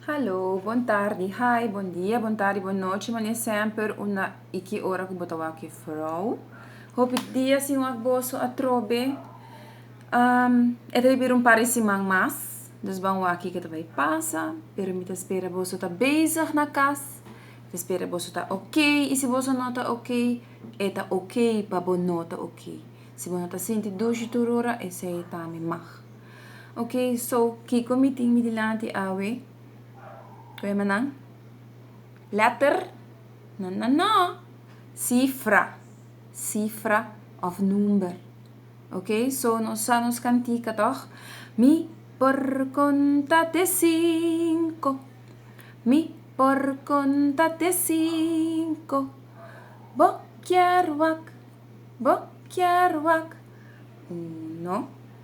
Hallo, bon tardi, hi, bon dia, bon tardi, bon noche, mane semper una i ki ora ku bo ta wak e frou. Hopi dia sin wak boso atrobe. Um, e ta bibir un par di siman mas, dus ban waki ke ta bai pasa, pero mi ta spera boso ta bezig na kas, ta spera boso ta ok, i si boso no ta ok, e ta ok pa bo no ta ok. Si bo no ta sinti dushi tur ora, esei tambe mag. Ok, so kiko mi tin mi dilanti awe? Ku e manan? Letter? No, no, no! Sifra, sifra of number. Ok, so nos sa nos kantika tog? Mi por konta te sinku, mi por konta te sinku. Bo kier wak, bo kier wak. Uno.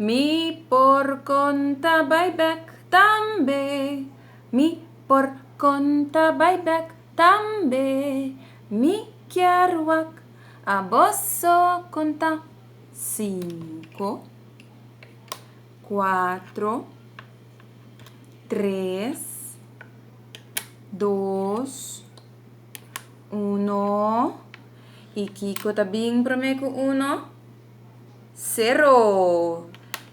Mi por konta bai bèk tambe, mi por konta bai bèk tambe, mi kier wak aboso konta, sinku, kuatro, tres, dos, uno, y kiko ta bin prome ku uno? Sero!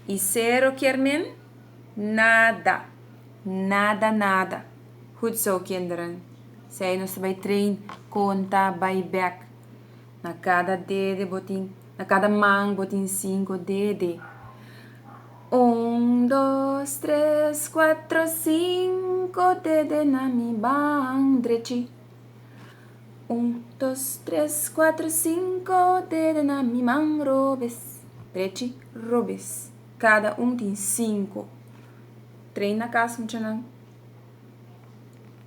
I sero kier men? Nada! Nada nada! Hoed zo, kinderen. Sei nos ta bai train, konta, bai bek. Na kada dede bo tin, na kada man bo tin sinko dede. Un, dos, tres, kuatro, sinko dede na mi man drechi. Un dos tres cuatro cinco dede na mi man robes drechi robes cada un tin cinco trei na cas muchanan.